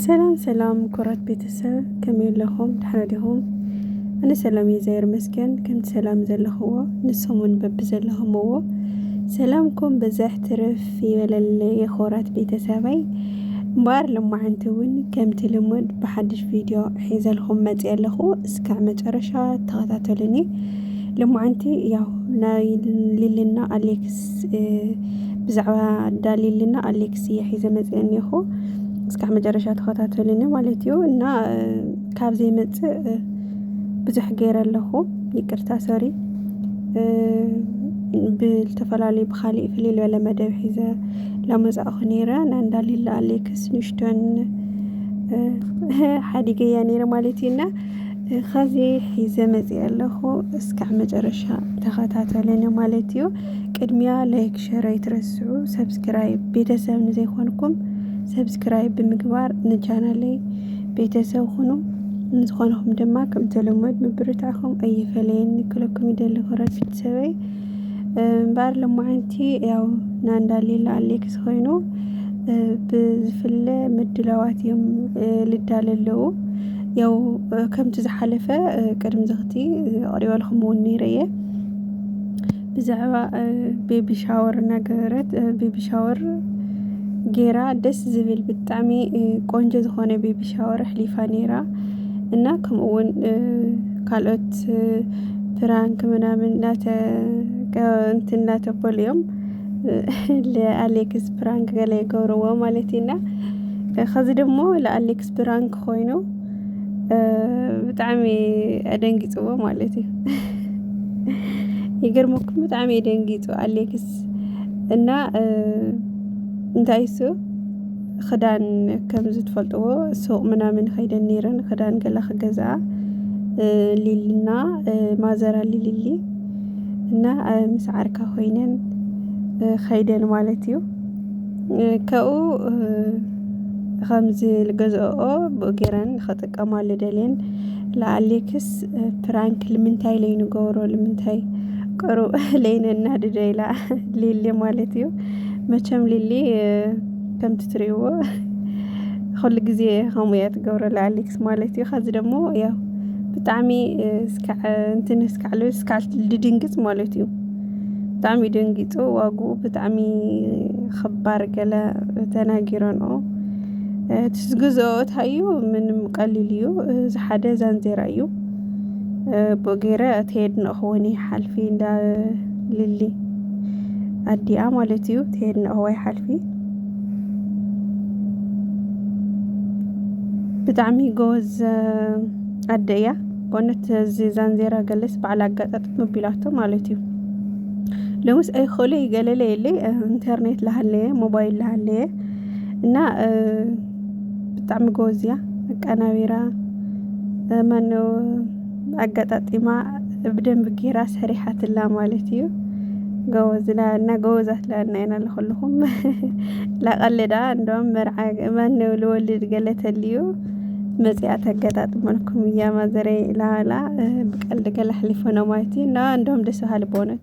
ሰላም ሰላም ኩራት ቤተሰብ ከመይ ኣለኹም ድሕረ ዲኹም ኣነ ሰላም እዩ ዘየር መስገን ከምቲ ሰላም ዘለኽዎ ንሰሙን በቢ ዘለኹምዎ ሰላምኩም ብዘሕ ትርፍ ይበለለ የኾራት ቤተሰበይ እምበኣር ልማዓንቲ እውን ከምቲ ልሙድ ብሓድሽ ቪድዮ ሒዘልኹም መፅ ኣለኹ እስካዕ መጨረሻ ተኸታተሉኒ ልማዓንቲ ያው ናይ ልልና ኣሌክስ ብዛዕባ ዳሊልና ኣሌክስ እየ ሒዘ መፅእ እኒኹ እስካዕ መጨረሻ ተኸታተሉኒ ማለት እዩ እና ካብ ዘይመፅእ ብዙሕ ገይረ ኣለኹ ይቅርታ ሰሪ ብዝተፈላለዩ ብካሊእ ፍልይ ዝበለ መደብ ሒዘ ላመፃእኹ ነይረ ናንዳሊላ ኣሌክስ ንሽቶን ሓዲገያ ነይረ ማለት እዩ እና ኸዚ ሒዘ መፅእ ኣለኹ እስካዕ መጨረሻ ተኸታተሉኒ ማለት እዩ ቅድሚያ ላይክ ሸር ኣይትረስዑ ሰብስክራይብ ቤተሰብ ንዘይኮንኩም ሰብስክራይብ ብምግባር ንቻናለይ ቤተሰብ ኹኑ ንዝኾንኹም ድማ ከምተለመድ ምብርታዕኹም ኣይፈለየኒ ክለኩም ይደሊ ክረፊት ሰበይ እምበኣር ሎማዓንቲ ያው ናንዳ ሌላ ኣሌክስ ኾይኑ ብዝፍለ ምድላዋት እዮም ልዳለ ኣለዉ ያው ከምቲ ዝሓለፈ ቅድሚ ዝኽቲ ኣቕሪበልኩም እውን ነይረ እየ ብዛዕባ ቤቢ ሻወር እናገበረት ቤቢ ሻወር ጌራ ደስ ዝብል ብጣዕሚ ቆንጆ ዝኾነ ቤቢ ሻወር ኣሕሊፋ ነይራ እና ከምኡውን ካልኦት ፕራንክ ምናምን እንትን እናተበሉ እዮም ለኣሌክስ ፕራንክ ገለ ይገብርዎ ማለት እዩና ከዚ ድሞ ለኣሌክስ ፕራንክ ኮይኑ ብጣዕሚ ኣደንጊፅዎ ማለት እዩ ይገርመኩም ብጣዕሚ የደንጊፁ ኣሌክስ እና እንታይ እሱ ኽዳን ከምዚ ትፈልጥዎ ሱቕ ምናምን ኸይደን ነይረን ኽዳን ገላ ክገዝኣ ሊሊና ማዘር ኣሊ ሊሊ እና ምስ ዓርካ ኾይነን ኸይደን ማለት እዩ ከኡ ኸምዚ ልገዝኦ ብኡ ገይረን ኸጥቀማሉ ደልየን ለኣሌክስ ፕራንክ ልምንታይ ለይንገብሮ ልምንታይ ቅሩብ ለይነናድዶ ኢላ ሊሊ ማለት እዩ መቸም ሊሊ ከምቲ ትሪእዎ ኩሉ ግዜ ከምኡ እያ ትገብረላ ኣሌክስ ማለት እዩ ከዚ ደሞ ያው ብጣዕሚ እስካዕ እንትን እስካዕ ልብል እስካዕ ልድንግፅ ማለት እዩ ብጣዕሚ እዩ ደንጊፁ ዋግኡ ብጣዕሚ ኽባር ገለ ተናጊረንኦ እቲ ዝገዝኦ እታዩ ምንም ቀሊል እዩ እዚ ሓደ ዛንዜራ እዩ ቦጌረ ትሄድ ንእኽወኒ ሓልፊ እንዳ ልሊ ኣዲኣ ማለት እዩ ትሄድ ንእኽዋይ ሓልፊ ብጣዕሚ ጎበዝ ኣደ እያ በእውነት እዚ ዛንዜራ ገለስ በዓል ኣጋጣጥ ምቢላቶ ማለት እዩ ለውስ ኣይክእሉ ይገለለ የለ ኢንተርኔት ላሃለየ ሞባይል ላሃለየ እና ብጣዕሚ ጎበዝ እያ ኣቀናቢራ ማነው ኣጋጣጢማ ብደንቢ ጌራ ሰሪሓትላ ማለት እዩ ጎበዝ እና ጎበዛት ላና ኢና ለኹልኹም ላቀልዳ እንደውም መርዓ ማነው ልወልድ ገለ ተልዩ መጽኣ ተገጣጥመልኩም እያ ማዘረይ ኢላላ ብቀልዲ ገለ ኣሕሊፎ ነው ማለት እዩ እና እንደውም ደስ በሃሊ በእውነት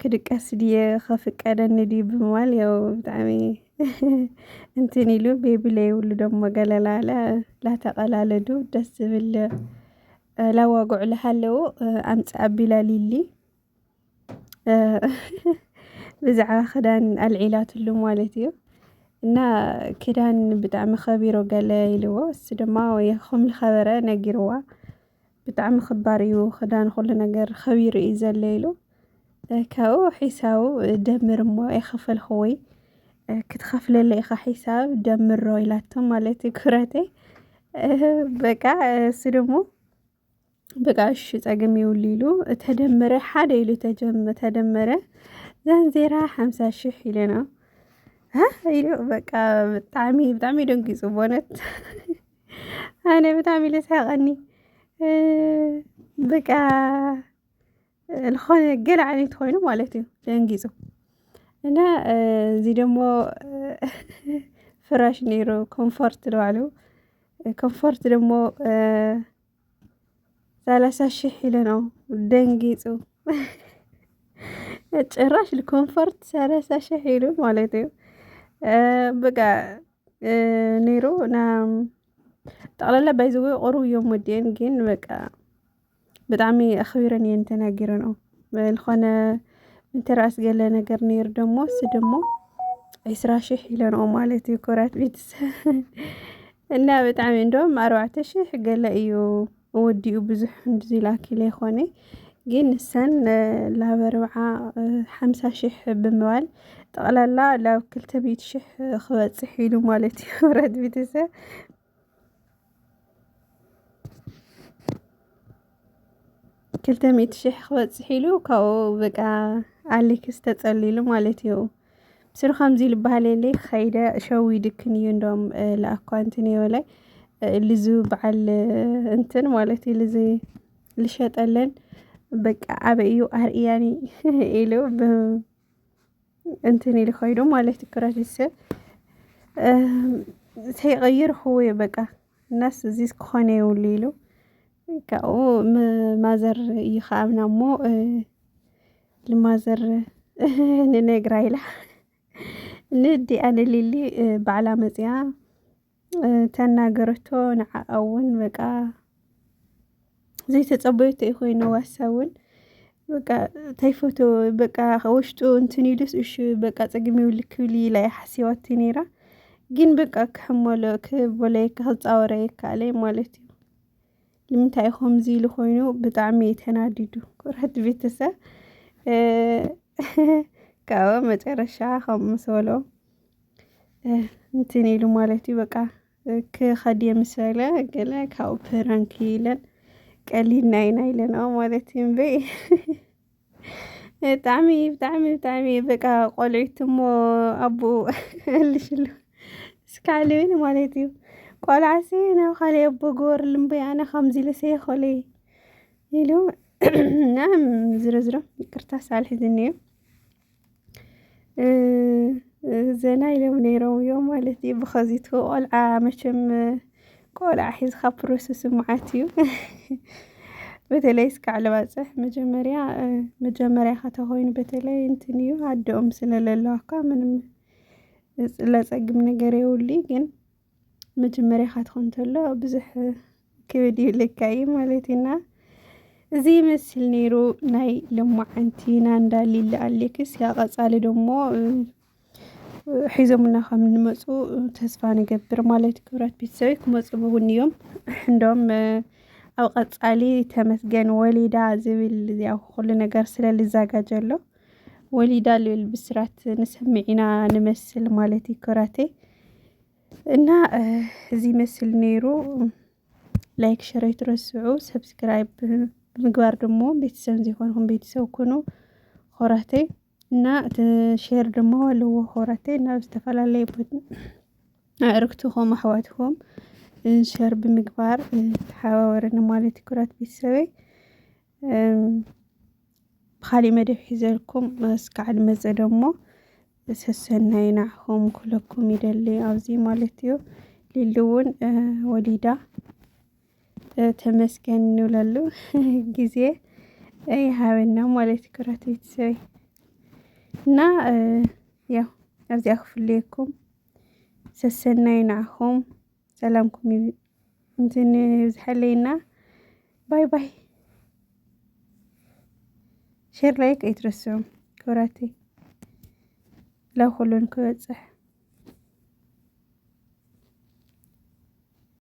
ክድቀስ ድየ ከፍቀደኒ ድዩ ብምባል ያው ብጣዕሚ እንትን ኢሉ ቤቢ ለይብሉ ደሞ ገለላ ላተቐላለዱ ደስ ዝብል ላዋግዑ ልሃለዉ ኣምፅ ኣቢላ ሊሊ ብዛዕባ ክዳን ኣልዒላትሉ ማለት እዩ እና ክዳን ብጣዕሚ ከቢሮ ገለ ኢልዎ እሱ ድማ ወይ ከም ዝኸበረ ነጊርዋ ብጣዕሚ ክባር እዩ ክዳን ኩሉ ነገር ኸቢሩ እዩ ዘሎ ኢሉ ካብኡ ሒሳቡ ደምር እሞ ኣይኸፈልክዎይ ክትኸፍለለ ኢኻ ሒሳብ ደምሮ ኢላቶ ማለት እዩ ኩረተይ በቃ እሱ ደግሞ በቃ እሺ ፀግም ይውሉ ኢሉ ተደመረ ሓደ ኢሉ ተደመረ ዛንዜራ ሓምሳ ሽሕ ኢሉ ነው ኢሉ በቃ ብጣዕሚ ብጣዕሚ ደንጊፁ በእውነት ኣነ ብጣዕሚ ኢለ ስሓቐኒ በቃ ዝኾነ ገለ ዓይነት ኮይኑ ማለት እዩ ደንጊፁ እና እዚ ደሞ ፍራሽ ነይሩ ኮምፎርት ንባዕሉ ኮምፎርት ደሞ ሰላሳ ሺህ ኢሉ ነው ደንጊጹ። ጭራሽ ኮንፈርት ሰላሳ ሺህ ኢሉ ማለት እዩ በቃ ነይሩ ና ጠቕላላ ባይዘወ ቁሩብ እዮም ወዲኤን ግን በቃ ብጣዕሚ ኣኽቢረን እየን ተናጊረንኦ ዝኾነ ምትራእስ ገለ ነገር ነይሩ ደሞ እሱ ደሞ ዒስራ ሽሕ ኢለንኦ ማለት እዩ ክብራት ቤተሰብ እና ብጣዕሚ እንደውም ኣርባዕተ ሽሕ ገለ እዩ ወዲኡ ብዙሕ እንድዚ ላኪለ ይኾነ ግን ንሰን ላብ ኣርብዓ ሓምሳ ሽሕ ብምባል ጠቕላላ ላብ ክልተ ሚእቲ ሽሕ ክበፅሕ ኢሉ ማለት እዩ ክብራት ቤተሰብ ክልተ ሚእቲ ሽሕ ክበፅሕ ኢሉ ካብኡ በቃ ኣሌክስ ተፀሊሉ ማለት እዩ ምስሩ ከምዚ ኢሉ በሃል የለ ከይደ ሸዊድክን እዩ እንደም ለኣኳ እንትን የበላይ ልዙ በዓል እንትን ማለት እዩ ልዙ ልሸጠለን በቃ ኣበይ እዩ ኣርእያኒ ኢሉ እንትን ኢሉ ከይዱ ማለት እዩ ክረዲት ሰብ ተይቀይር ኹ በቃ እናስ እዚ ክኾነ የብሉ ኢሉ ካብኡ ማዘር ይኸኣብና እሞ ልማዘር ንነግራ ኢላ ንዲ ኣነ ሊሊ ባዕላ መፅያ ተናገረቶ ንዓኣ እውን በቃ ዘይተፀበየቶ እዩ ኮይኑ ዋሳ እውን በቃ ተይፈቶ በቃ ውሽጡ እንትን ኢሉስ እሺ በቃ ፀግም ይብሉ ክብል ኢላ እያ ሓሲባቲ ነይራ ግን በቃ ክሕመሎ ክበለየካ ክፃወረ ይካኣለ ማለት እዩ ንምንታይ ከምዚ ኢሉ ኮይኑ ብጣዕሚ እዩ ተናዲዱ ኩርሕቲ ቤተሰብ ካብኡ መጨረሻ ከም ምስ በሎ እንትን ኢሉ ማለት እዩ በቃ ክኸድ የምሰለ ገለ ካብ ፕራንክ ኢለን ቀሊልና ኢና ኢለና ማለት እዩ እምበይ ብጣዕሚ ብጣዕሚ ብጣዕሚ በቃ ቆልዒት እሞ ኣቦኡ እልሽሉ ስካልብል ማለት እዩ ቆልዓሲ ናብ ካልእ ኣቦ ግበርሉ እምበይ ኣነ ከምዚ ኢለሰ ይኸለ ኢሉ እና ዝርዝሮ ይቅርታ ሳልሕዝኒ እዩ ዘና ኢሎም ነይሮም እዮም ማለት እዩ። ብኸዚት ቆልዓ መቸም ቆልዓ ሒዝካ ፕሮሰስ መዓት እዩ። በተለይ እስካዕ ልባፅሕ መጀመርያ መጀመርያ ኸተኾይኑ በተለይ እንትን እዩ ኣደኦም ስለለለዋ እኳ ምንም ለፀግም ነገር የውሊ ግን መጀመርያ ካትኸ እንተሎ ብዙሕ ክብድ ይብለካ እዩ ማለት እዩና እዚ ይመስል ነይሩ ናይ ሎማዓንቲ ናንዳ ሊሊ ኣሌክስ ያ ቀፃሊ ደሞ ሒዞምና ከም እንመፁ ተስፋ ንገብር ማለት ክብራት ቤተሰበይ ክመፁ እውን እዮም እንዶም ኣብ ቀፃሊ ተመስገን ወሊዳ ዝብል ያው ኩሉ ነገር ስለ ልዛጋጀ ኣሎ ወሊዳ ልብል ብስራት ንሰምዕ ኢና ንመስል ማለት እዩ ኮራተይ እና እዚ ይመስል ነይሩ። ላይክ ሸር ኣይትረስዑ፣ ሰብስክራይብ ብምግባር ደግሞ ቤተሰብ ዘይኮንኩም ቤተሰብ ኩኑ ኮራተይ እና ሼር ድማ ኣለዎ ኮራተይ ናብ ዝተፈላለየ ኣዕርክትኹም ኣሕዋትኩም ሸር ብምግባር ተሓባበረኒ ማለት ኩራት ቤተሰበይ ብኻሊእ መደብ ሒዘልኩም እስካዕ ድመፀ ደሞ ሰሰናዩ ናዕኹም ክብለኩም ይደሊ ኣብዚ ማለት እዩ ሊሊ እውን ወሊዳ ተመስገን ንብለሉ ጊዜ ይሃበና ማለት እዩ ክብራት ቤተሰበይ እና ያው ኣብዚኣ ክፍለየኩም ሰሰናዩ ናዕኹም ሰላምኩም ይብዛሕ እንትን ይብዝሐለይና ባይ ባይ ሼር ላይክ ኣይትረስዑ ክብራተይ ላብ ኩሉን ክበፅሕ